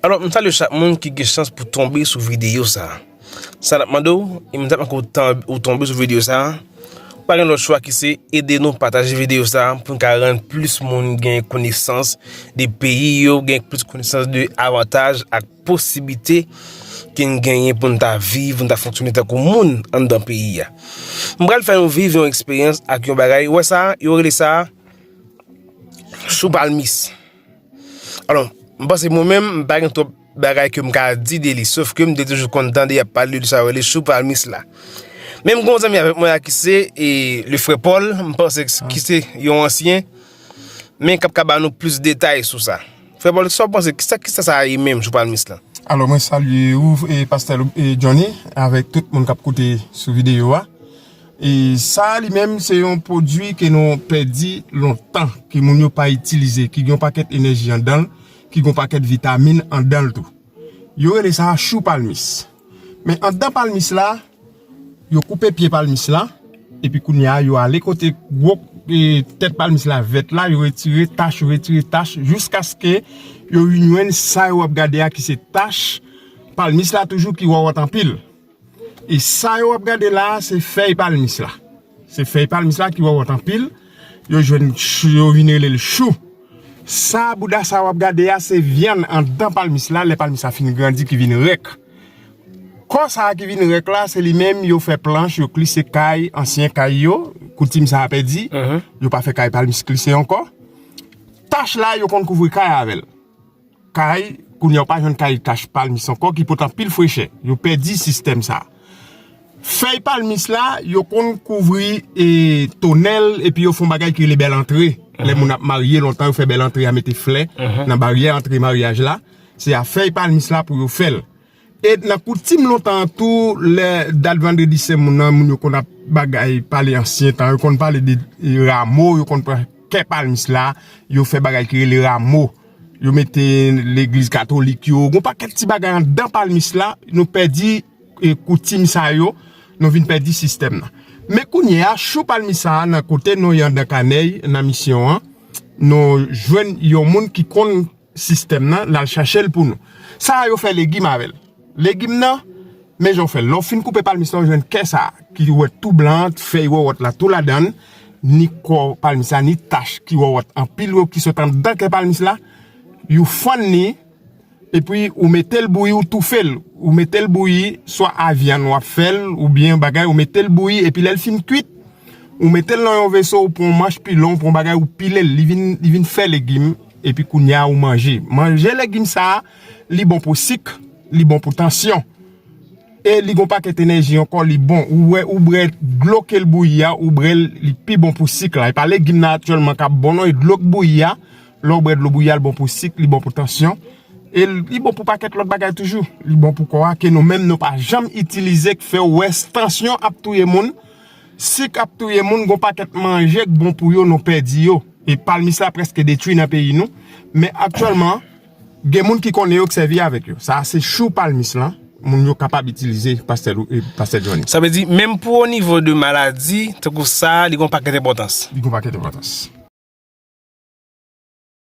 Alò, m salye chak moun ki gen chans pou tonbe sou videyo sa. Sa nap mande ou, e m tap mande ou tonbe sou videyo sa, pa gen lòt chwa ki se ede nou pataje videyo sa pou n ka rann plis moun gen konesans de peyi yo, gen plis konesans de avantaj ak. posiblite ke n genyen pou n ta viv, pou n ta fonksyone tankou moun anndan peyi a. M pral fè yon viv yon eksperyans ak yon bagay, ou wè sa, yo rele sa sou palmis. Alon, m panse mwen menm, m pa gen twòp bagay ke m ka di de li, sof ke m te toujou konn tande y ap pale de sa yo rele sou palmis la. Menm gon zanmi avèk mwen a ki se e le frè Pòl, m panse ki se yon ansyen, men k ap ka ba nou plis detay sou sa. Frè Paul kisa w panse kisa kisa sa ye menm jou palmis lan? Alò mwen salye ou pastè Johnny avèk tout moun kap koute sou videyo a e sa li menm se yon pwodwi ke nou pèdi lontan ke moun yo pa itilize ki gen yon pakèt enèji andanl ki gen yon pakèt vitamin andanl tou yo rele sa chou palmis men andan palmis la Yo koupe pye palmis la, epi kounye a yo ale kote gwo tèt palmis la vèt la, yo retire tach, yo retire tach, jouskaske yo vin jwenn sa yo ap gade a ki se tach palmis la toujou ki wawòt anpil. E sa yo ap gade la a, se fèy palmis la. Se fèy palmis la ki wawòt anpil, yo jwenn, yo vin rele l chou. Sa bouda sa yo ap gade a, se vyann anndan palmis la, lè palmis la fin grandi ki vin rèk. Kò sa a ki vin rèk la, se li menm yo fè planch, yo klise kay, ansyen kay yo, koutim sa a pèdi, yo pa fè kay palmis klise ankò. Tach la yo konn kouvri kay avè l. Kay, kounye a ou pa jwenn kay tach palmis ankò ki pot anpil frechè. Yo pèdi sistèm sa a. Fèy palmis la, yo konn kouvri e tonèl epi yo fon bagay ki rele bèlantre. Lè moun ap marye lontan yo fè bèlantre a mete flè nan baryè antre maryaj la. Se a fèy palmis la pou yo fèl. E nan koutim lontan an tou, lè dat vandredi sen moun nan, moun yo konn ap bagay pale ansyen tan, yo konn pale de ramo, yo konn pran kè palmis la, yo fè bagay ki rele ramo. Yo mete legliz katolik yo, goun pakèt ti bagay an dan palmis la, nou pèdi koutim sa yo, nou vin pèdi sistèm nan. Men kounye a, chou palmis sa a nan kote nou yan dan kanèy nan misyon an, nou jwenn yon moun ki konn. Sistèm nan nal chachel pou nou. Sa a yo fè legim avèl. Legim nan, men jan ou fèl. Lè ou fin koupe palmis la ou jwenn kè sa a ki ou wè tou blan an, fèy wòwòt la tou ladann, ni kò palmis la ni tach ki wòwòt anpil yo ki sot anndan kè palmis la, you fann li epi ou metel bouyi ou toufel, ou metel bouyi swa a vyann wap fèl ou byen yon bagay ou metel bouyi epi lèl fin kwit ou metel nan yon veso ou pran yon manch pilon ou pran yon bagay ou pilel li vin fè legim. Epi kounya ou manje. Manje legim sa a, li bon pou sik, li bon pou tansyon. E li gon pakèt enèji ankò, li bon. Ou wè, ou bre dlo ke l bouyi a, ou bre l, li pi bon pou sik la. E pa legim nan aktyèlman k ap bon non, e dlo k bouyi a, lè ou bre dlo bouyi a, li bon pou sik, li bon pou tansyon. E li bon pou pakèt lòt bagay toujou. Li bon pou kò a, ke nou menm nou pa janm itilize k fè ou wè s tansyon ap touye moun. Sik ap touye moun, gon pakèt manje k bon pou yo nou pèdi yo. E palmis la prèske detwi nan peyi nou. Men aktyèlman, gen moun ki konnen yo k sèvi avèk yo. Sa a se chou palmis lan, moun yo kapab itilize pastè Johnny. Sa vle di, menm pou o nivo de maladi, tankou sa a, li gon pakèt enpòtans. Li gon pakèt enpòtans.